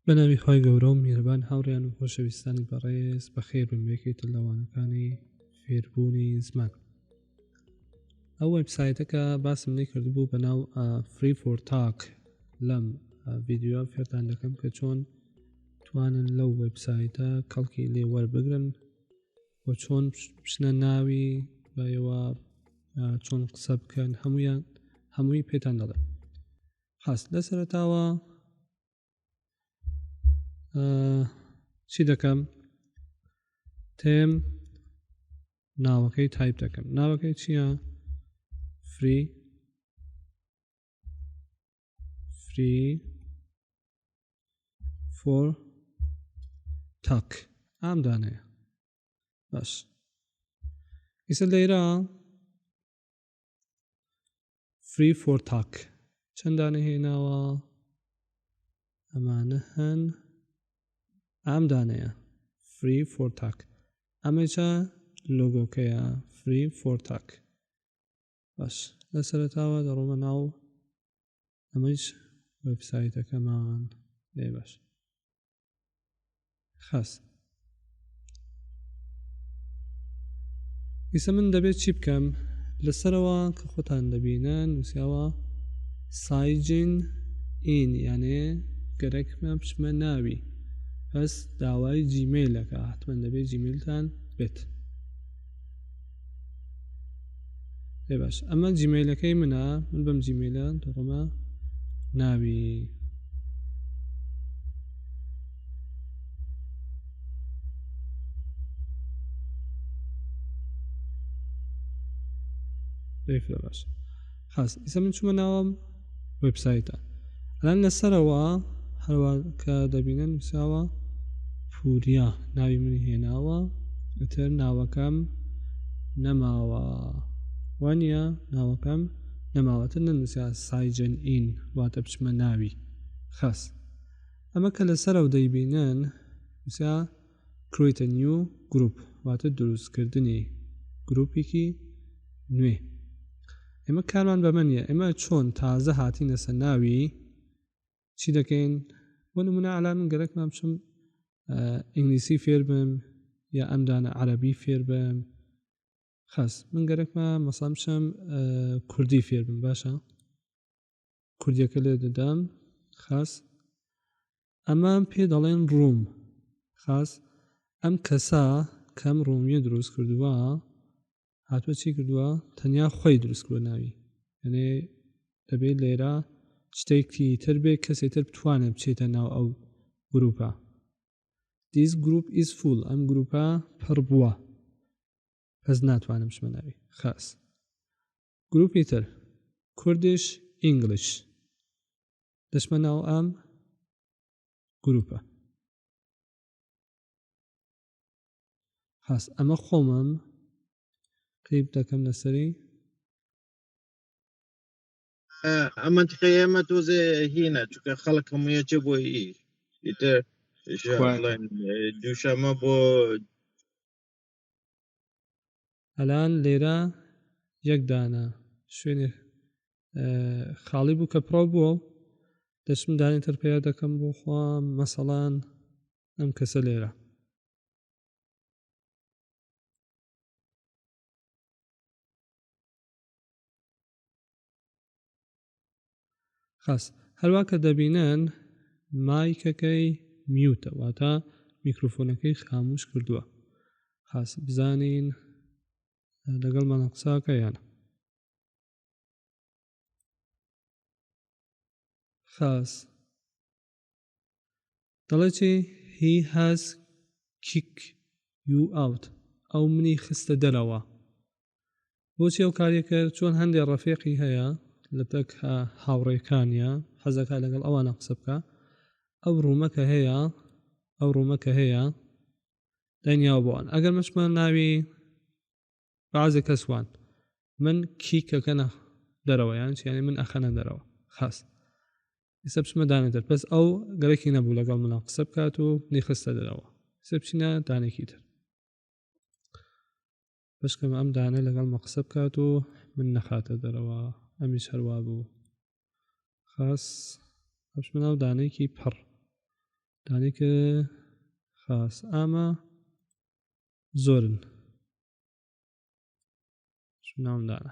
بە ناوی خی گەورە و میێربان هاوڕیان و خۆشەویستانی بەڕێز بە خێر بم یەکێتە لەوانەکانی فێربوونی زمان ئەو وبسایتەکە باسم لێ کردبوو بە ناو فری فۆر تاک لەم ڤیددیو فێرتان دەکەم کە چۆن توانن لەو وبسایتە کەڵکی لێ وەربگرن و چۆن بچنە ناوی بەەوە چۆن قسە بکەن هەمویان هەمووی پێتان دەڵێن هەست لە سەرتاوە چی دەکەم تێم ناوەکەی تایپ دەکەم ناوەکەی چییە فری فری فۆر تاک ئام دانەیە باش ئیسە لێرە فری فۆر تاک چەندانە هێناوە ئەمانە هەن ئەم دانەیە فری فۆر تاک ئەمەچە لۆگۆکەیە فری فۆر تاک باش لە سەرتاوە دەڕۆمە ناو ئەمەش وەبسایتەکەمان لێ باش خاس ئیسە من دەبێت چی بکەم لەسەرەوە کە خۆتان دەبینە نووسیاوە سایجین ئین یانێ گەرەکمە بچمە ناوی بەس داوای جیمیلەکە حتممە دەبێت جیمیلتان بێت پێ باش ئەمە جیمەیلەکەی منە من بەم جیمەیلە دەڕمە ناوی باش خاس ئیسە من چوومە ناوم وبسایتە ئەلان لەسەرەوە هەروە کە دەبینە نووساوە پوریا ناوی منی هێناوە ئەتر ناوەکەم نەماوە وانە ناوەکەم نەماوەتە نەنووسیا سایجن ئین واتە بچمە ناوی خەست ئەمە کە لەسەرەوە دەیبینن وسا Create a new group واتە دروستکردنی گروپێکی نوێ ئێمە کارمان بەمە نییە ئێمە چۆن تازە هاتینەسە ناوی چی دەکەین بۆ نمونە ئەلا من گەرەکمان بچم ئینگلیسی فێر بم یا ئەمدانە عەربی فێر بم خەس من گەرەکمە مەسام بچم کوردی فێر بم باشە کوردیەکە لێ دەدان خاس ئەمان پێ دەڵێن ڕووم خاس ئەم کەسا کەم ڕۆمیە دروست کردووە هاتوە چی کردووە تەنیا خۆی دروست بۆ ناوی ئەێ دەبێت لێرە شتێکی تر بێ کەسێ تر بتوانێت بچێتە ناو ئەو گروپە دیس گروپ ئیس فول ئەم گروپە پڕ بووە هەز ناتوانم شمە ناوی خاس گروپی تر کوردیش ئینگلیش دەشمە ناو ئەم گروپە هەست ئەمە خۆمم قیب دەکەم لەسەری ئەمە تخە ئێمە تۆزێ هینە چکە خەڵک هەموویەچێ بۆ ئی دووشەمە بۆ ئەلان لێرە یەک دانە شوێنێ خاڵی بوو کە پڕۆ بووە و دەچم دانی تر پیا دەکەم بۆ خوا مەسەڵان ئەم کەسە لێرە خاس هەروە کە دەبینن مایکەکەی میوتە واتە میکروفۆنەکەی خاموش کردووە خاس بزانین لەگەڵ مەە قساکە یانە خاس دەڵێت چی هی هاز کیک یو ئاوت ئەو منی خستە دەرەوە بۆچی ئەو کاریە کرد چۆن هەندێک ڕەفێقی هەیە لە تەک هاوڕێکانە حەزەکە لەگەڵ ئەوانە قسە بکە ئەو ڕوومەکە هەیە ئەو ڕوومەکە هەیە دەنیاوە بۆوان ئەگەر مەشمان ناوی بازێک کەسوان من کیکەکەە دەرەوەیان چیانی من ئەخەنە دەرەوە خاست ئێستا بچمە دانێتر پس ئەو گەرەکی نەبوو لەگەڵ منە قسە بکات و نیخستە دەرەوە سە بچینە دانێکی تر بەشکەم ئەم دانە لەگەڵ مە قسە بکات و من نەخاتە دەرەوە ئەمی شەروا بوو خاس ئەش مناو دانێکی پڕ دانێکە خاس ئامە زۆرن ناوم دانە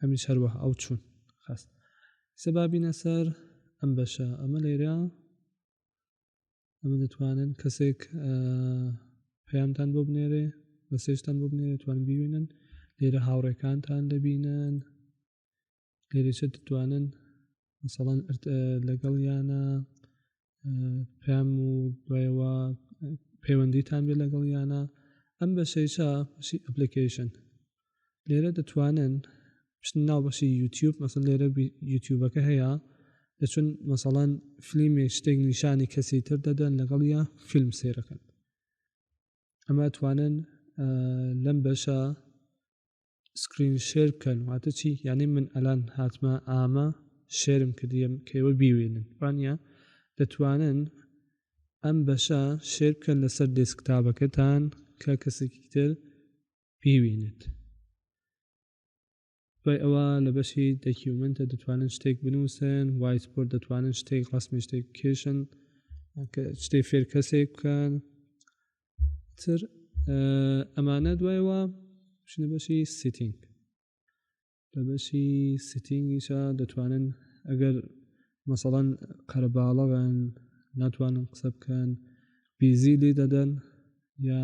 ئەمیش هەروە ئەو چوون خست سەبابینە سەر ئەم بەشە ئەمە لێرە ئەمە دەتوانن کەسێک پەیامتان بۆ بنێرێ مەسێشتان بۆ بنێ دەتوان ببینن لێرە هاوڕێکانتان دەبینن لێرەشە دەتوانن مثلەن لەگەڵ یانە پام و دوایەوە پەیوەندیتان بێ لەگەڵ یانە ئەم بەشەیشە بەشی ئەپلیکیشن لێرە دەتوانن پشتن ناو بەشی یوتیوب مەسن لێرە یوتیوبەکە هەیە دەچون مەسەڵەن فلیمی شتێک نیشانی کەسی تر دەدەن لەگەڵ یا فیلم سێرەکەن ئەمە توانن لەم بەشە سکرین شێر بکەن واتە چی یعنی من ئەلان هاتمە ئامە شێرم کردیم کەەوە بیوێنن وانە دەتوانن ئەم بەشە شێر بکەن لەسەر دێسکتابەکەتان کە کەسێکی تر بیوێنێت دوای ئەوە لە بەشی دەکیومنتە دەتوانن شتێک بنووسن وایسپۆرت دەتوانن شتێک ڕاستمی شتێک کێشن شتێک فێر کەسێک بکەن تر ئەمانە دوایەوە شنە بەشی سیتینگ لە بەشی سیتینگیشە دەتوانن ئەگەر مەسەڵەن قەرەباڵەوەن ناتوانن قسە بکەن بیزی لێ دەدەن یا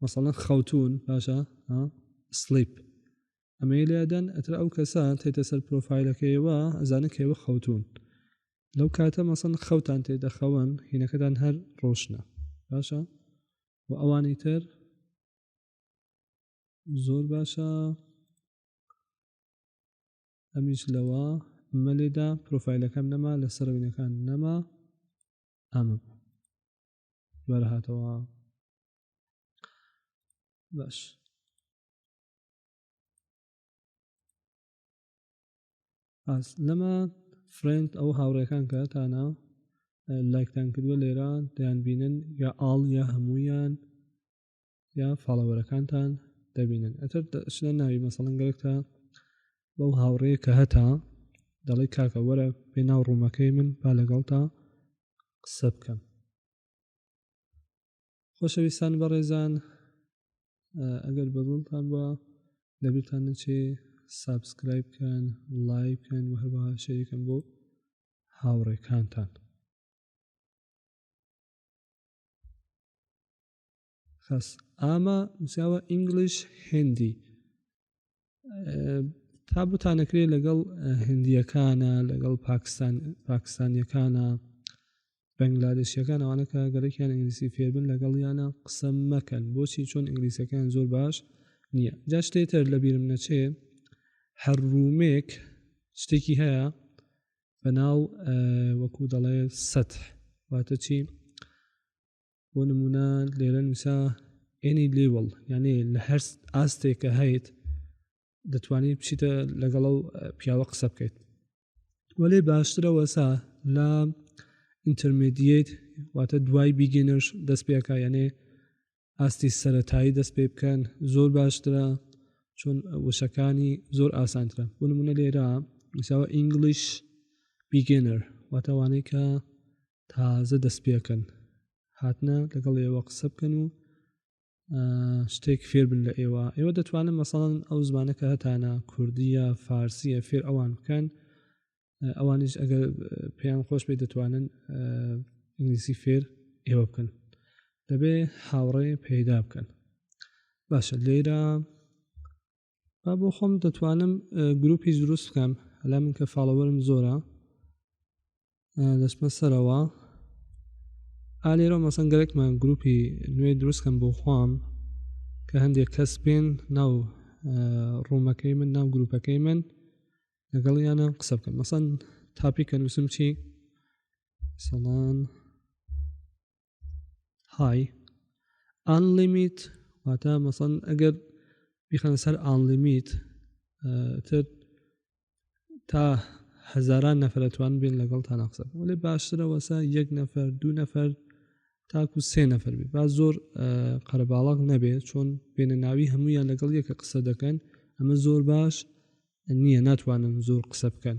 مەسەڵەن خەوتون باشە سلیپ ئەمەی لێدەن ئەتر ئەو کەسە تێتە سەر پرۆفایلەکەیەوە ئەزانن کەێوە خەوتون لەو کاتە مەسن خەوتان تێ دەخەون هینەکەتان هەر ڕۆشنە باشە و ئەوانی تر زۆر باشە ئەمیش لەوە مەلێدا پرۆفایلەکەم نەما لە سەرەوینەکان نەما ئەمە بەرهاتەوە باش ئاس لەمە فرند ئەو هاوڕێکان کەتانە لایکتان کردووە لێرە دەیان بینن یا ئاڵ یا هەموویان یا فاڵەوەرەکانتان دەبینن ئەتر شنە ناوی مەسەڵەن گەرێکتە بەو هاوڕێ کە هەتا دەڵی کاکە وەرە پێ ناو ڕوومەکەی من با لەگەڵ تا قسە بکەم خۆشەویستان بەڕێزان ئەگەر بەدڵتان بە لەبیرتان نەچێ سابسکرایب بکەن لایک بکەن و هەروەها شەریکن بۆ هاوڕێکانتان خەس ئامە نووسیاوە ئینگلیش هندی تا بتانەکرێ لەگەڵ هندیەکانە لەگەڵ پاکستان پاکستانیەکانە بەنگلادشیەکان ئەوانە کە گەرەکیان ئینگلیسی فێربن لەگەڵیانە قسە مەکەن بۆچی چۆن ئینگلیسەکان زۆر باش نییە جا شتێتر لە بیرم نەچێ هەر ڕوومێک شتێکی هەیە بە ناو وەکو دەڵێ سەح واتە چی بۆ نمونە لێرە نووسا ئێنی لیوڵ یعنی لە هەر ئاستێکە هەیت دەتوانیت بچیتە لەگەڵ و پیاوە قسە بکەیت وەێ باشترەوەسا لە ئینتەرمدیت واتە دوای بیگەنەش دەست پێکە یعنی ئاستی سەتایی دەست پێ بکەن زۆر باشترە چۆن وشەکانی زۆر ئاسانترە بۆ نمونە لێرە نووسەوە ئینگلیش بیگەنەر واتەوانەی کە تازە دەستپێکەن هاتنە لەگەڵ ئێوە قسە بکەن و شتێک فێربن لە ئێوە ئێوە دەتوانن مەسەڵەن ئەو زمانەکە هەتانە کوردیە فارسیە فێر ئەوان بکەن ئەوانش ئەگەر پێیان خۆش بێ دەتوانن ئینگلیسی فێر ئێوە بکەن دەبێ هاوڕێ پەیدا بکەن باشە لێرە با بۆ خۆم دەتوانم گروپی دروست بکەم لە من کە فاڵەوەرم زۆرە دەچمە سەرەوە ئالێرە مەسەن گەرەکمان گروپی نوێ دروستکەم بۆ خۆم کە هەندێک کەس پێن ناو ڕوومەکەی من ناو گروپەکەی من لەگەڵ یانە قسە بکەم مەسەن تاپی کە نووسم چی سەڵان های ئەنلیمیت واتە مەسەن ئەگەر بیخەنە سەر ئەنلیمیت تر تا هەزاران نەفرەتوان بین لەگەڵ تا ناقسە وەێ باشترەوەسا یەک نەفەر دوو نەفەر تاکو سێ نەفەر بێ با زۆر قەرباڵق نەبێ چۆن بێنە ناوی هەمویان لەگەڵ یەکە قسە دەکەن ئەمە زۆر باش نییە ناتوانن زۆر قسە بکەن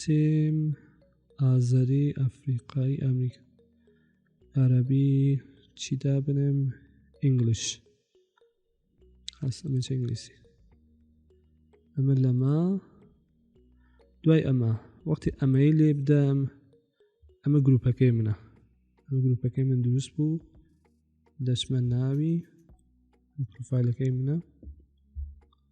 تیم ئازەری ئەفریقای ئەمریکا عربی چی دابنێم ئینگلیش هەستەمە ئینگلیسی ئەمە لەمە دوای ئەمە وەختی ئەمەی لێ بدەم ئەمە گروپەکەی منە ئەمە گروپەکەی من دروست بوو دەچمە ناوی پروفایلەکەی منە